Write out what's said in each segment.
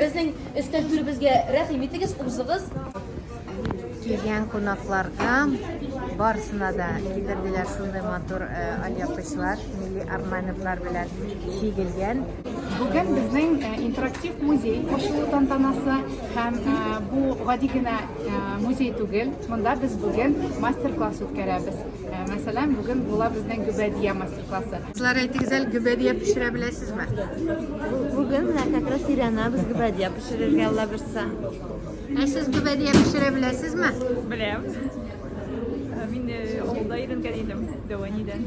Безнең өстәл түребезгә рәхим итегез, узыгыз. Килгән кунакларга барысына да китерделәр шундый матур э, алъяпкычлар, милли орнаментлар белән чигелгән. Бүген безнең интерактив музей ачылу тантанасы һәм бу гади генә музей түгел. Монда без бүген мастер-класс үткәрәбез. Мәсәлән, бүген була безнең гөбәдия мастер-классы. Кызлар, әйтегез әле, гөбәдия пешерә беләсезме? Бүген менә как раз Ирана без гөбәдия пешерергә Алла бирса. Ә сез гөбәдия пешерә беләсезме? Беләм. Мин авылда өйрәнгән идем, Дәванидән.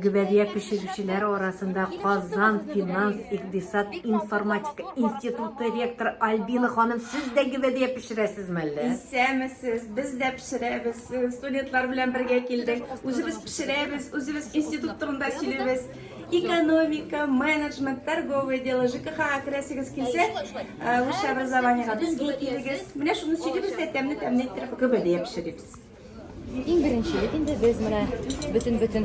Гөбәдия пешерүчеләре арасында Казан финанс-икъдисад информатика институты ректоры Альбина ханым, сез дә гөбәдия пешерәсезме әллә? Исәмесез, без дә пешерәбез. Студентлар белән бергә килдек. Үзебез пешерәбез, үзебез институт турында сөйлибез. Экономика, менеджмент, торговое дело, ЖКХ керәсегез килсә, высшее образованиега безгә килегез. Менә шуны сөйлибез дә тәмле-тәмле иттереп гөбәдия пешерибез. Иң беренче бит инде без менә бөтен бөтен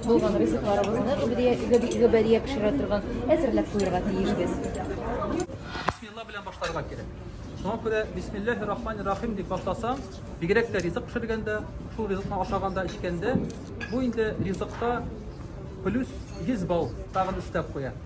булган ризыкларыбызны гөбедия гөбедия пешерә торган әзерләп куярга тиеш без. Бисмилла белән башларга кирәк. Шуңа күрә бисмиллахи рахмани рахим дип башласаң, бигрәк тә ризык пешергәндә, шул ризыкны ашаганда, эчкәндә, бу инде ризыкта плюс 100 балл тагын өстәп куя.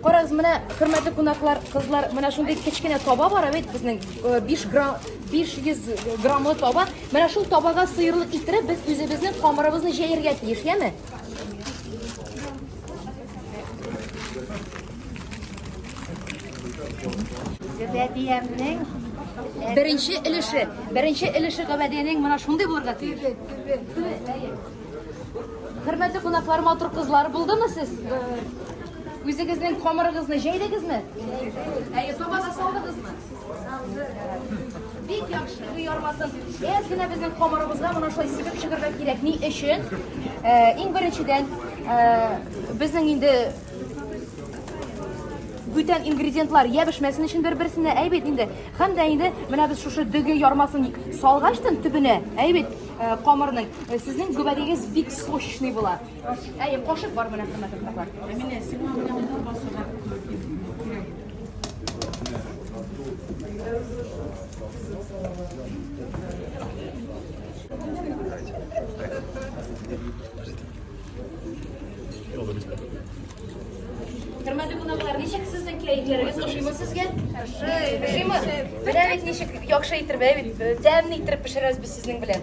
Карагыз, менә хөрмәтле кунаклар, кызлар, менә шундый кечкенә таба бар бит безнең 5 грамм 500 граммлы таба. Менә шул табага сыерлык китереп, без үзебезнең камырыбызны җәяргә тиеш, яме? Гөбәдиемнең беренче өлеше, беренче өлеше гөбәдиянең менә шундый булырга тиеш. Хөрмәтле кунаклар, матур кызлар булдымы сез? Үзегезнең камырыгызны җәйдегезме? Әйе, таба да салдыгызмы? Бик яхшы, бу ярмасын. Әз генә безнең камырыбызга моны шулай сибеп чыгырга кирәк. Ни өчен? Э, иң беренчедән, э, безнең инде бүтән ингредиентлар я бешмәсен өчен бер-берсенә әйбит инде. Һәм дә инде менә без шушы дөге ярмасын салгачтын төбенә әйбит э, камырның э, сезнең гөбәдегез бик сочный була. Әйе, кошык бар менә хөрмәтле кунаклар. Менә сиңа менә Хөрмәтле кунаклар, ничек сезнең кәефләрегез ошыймы сезгә? Ошыймы? Менә бит ничек яхшы итеп, ә бит тәмле итеп пешерәбез без сезнең белән.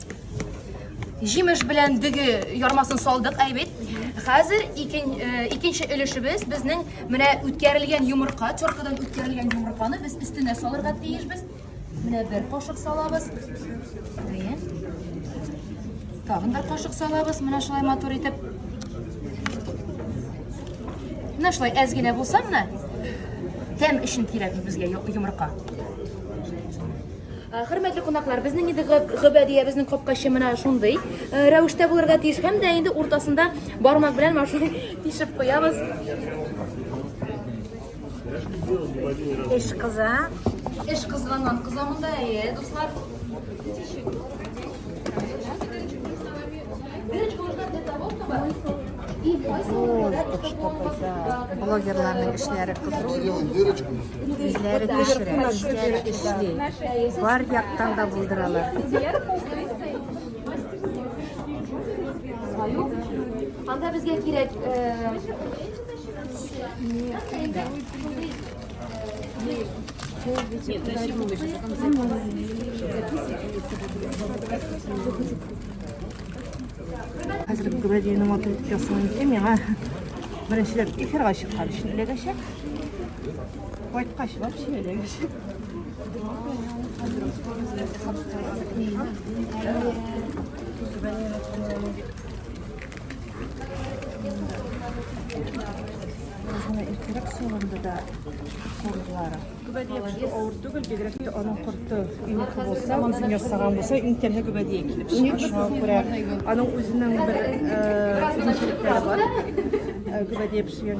Җимеш белән дөге ярмасын салдык, әйбәт. Хәзер икен, э, икенче өлешебез безнең менә үткәрелгән йомырка, теркадан үткәрелгән йомырканы без өстенә салырга тиешбез. Менә бер кашык салабыз. Әйе. Тагын бер кашык салабыз, менә шулай матур итеп. Менә шулай әз генә булса, менә тәм өчен кирәк безгә йомырка. Хөрмәтле кунаклар, безнең инде гөбәдиябезнең капкачы менә шундый рәвештә булырга тиеш. Һәм дә инде уртасында бармак белән машина тишеп куябыз. Эш кыза. Эш кызганнан кыза монда, әйе, дуслар. Дырочка нужна для того, чтобы Блогерларның эшләре кызу. Үзләре пешерә, үзләре эшли. Бар яктан да булдыралар. Анда безгә кирәк Хәзер градиенә матур ясалган икән, миңа беренчеләп эфирга чыккан өчен эләгәчәк. Кайткач, вообще эләгәчәк. Бына иртәрәк салынды да кортлары. Гөбәдия авыр түгел, бигрәк тә аның корты инеке булса, үзен ясаган булса, иң тәмле гөбәдия килеп чыга. Шуңа күрә аның үзенең бер э, үзенчәлекләре бар. Э, Гөбәдия пешергән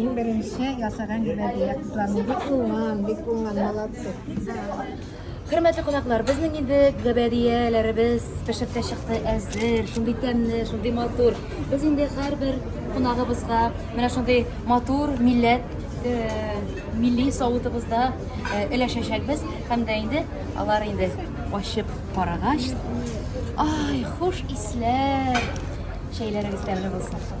Иң беренче ясаган гөбәдия кызларны бик уңган, бик уңган, молодцы. Хөрмәтле кунаклар, безнең инде гөбәдияләребез пешеп тә чыкты, әзер, шундый тәмле, шундый матур. Без инде һәрбер кунагыбызга менә шундый матур милләт э, милли савытыбызда э, өләшәчәкбез һәм дә инде алар инде ачып карагач, ай, хуш исләр! Чәйләрегез тәмле булсын.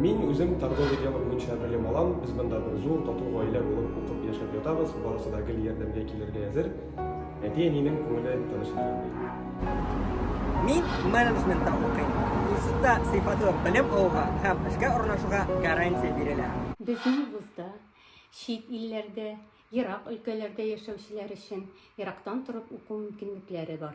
Мин үзем торговый дело буенча белем алам. Без монда бер зур тату гаилә булып укып яшәп ятабыз. Барысы да гел ярдәмгә килергә әзер. Әти-әнинең күңеле тыныч икән. Мин менеджментта укыйм. Институтта сыйфатлы белем алуга һәм эшкә урнашуга гарантия бирелә. Безнең вузда чит илләрдә, ерак өлкәләрдә яшәүчеләр өчен ерактан торып уку мөмкинлекләре бар.